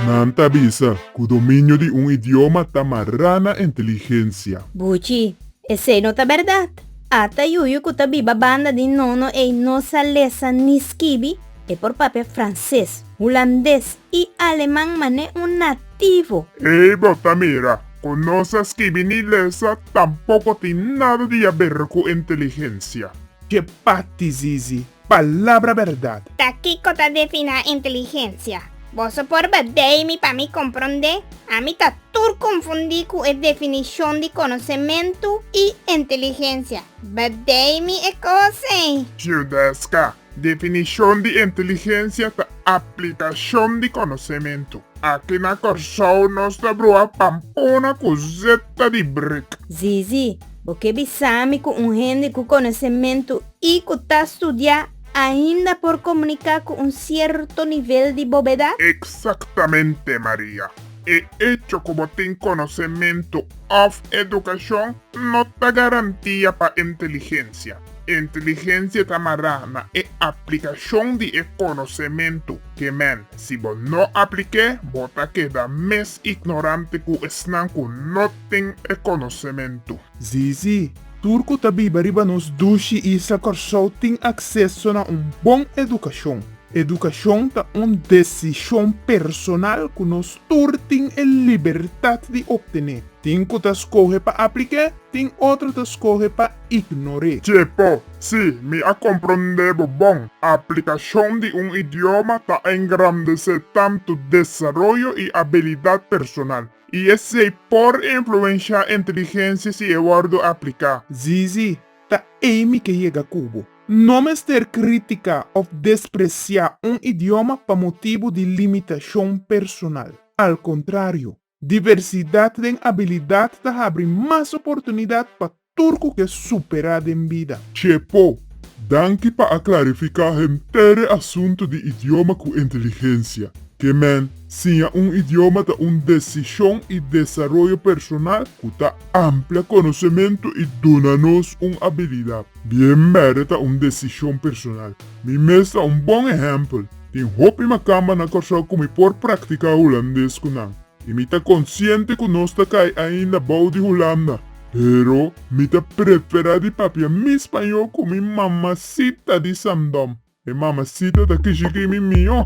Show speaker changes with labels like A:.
A: Nan ta bisa ku dominio di un idioma ta mará na inteligensia. Buchi,
B: esei no ta bèrdat. Ata yuyu ku ta biba banda di nono ei no sa lesa ni skibi, e por papia franses, hulandes, i Aleman man'é un nativo. Ey bo ta
A: mira cu no sa skibi ni lesa tampoco tin nada di haber cu inteligencia. Ke
C: parti Zizi? Palabra berdad! Ta kico ta
D: definá inteligencia? Boso por bedei mi pa mi comprondé? Ami ta tur confundí cu e definicion di conocementu i inteligencia. Bedei mi e cos ei! Ciudesca,
A: Definishon di inteligensia ta aplikashon di konosementu. Aki na Kòrsou nos ta bruha pampona ku zeta di brik. Zizi, bo
B: ke bisa mi ku un hende ku konosementu i ku ta studiá ainda por komuniká ku un sierto nivel di bobeda? Eksaktamente,
A: Maria. E echo ku bo tin konosementu òf edukashon no ta garantia pa inteligencia. Inteligencia ta mará na e aplicacion di e conocementu ke men. Si bo no aplik'é, bo ta keda mes ignorante ku esnan ku no tin e conocementu. Sí, sí,
C: tur ku ta biba riba nos dushi isla Kòrsou tin akseso na un bon edukashon. Edukashon ta un desishon personal ku nos tur tin e libertat di opten'é. Tin ku ta skohe pa aplik'é, tin otro ta skohe pa ignor'é. Tjepo, Sí,
A: mi a komprondé bo bon. Aplikashon di un idioma ta engrandesé tantu desaroyo i abilidat personal, i esei por influenshá inteligensia si e wòrdu apliká. Zizi,
C: Ta ei mi ke yega ku bo. No mester kritiká òf despresiá un idioma pa motibu di limitashon personal. Al kontrario, Diversidat den abilidat ta habri mas oportunidat pa tur cu ke supera den bida. Chepo,
A: danki pa a clarifica henter asunto di idioma cu inteligencia. Ke men, siña un idioma ta un decision y desaroyo personal cu ta amplia conocemento y duna nos un abilidad. Bien berde ta un decision personal. Mi mes ta un bon ehempel. Tin hopi makamba na Kòrsou ku mi por praktiká hulandes ku nan, i mi ta konsiente ku nos ta kai ainda bou di Hulanda. Pero mi ta preferá di papia mi spañó ku mi mamasita di Sandom. E mamasita ta kishi ki mi mihó.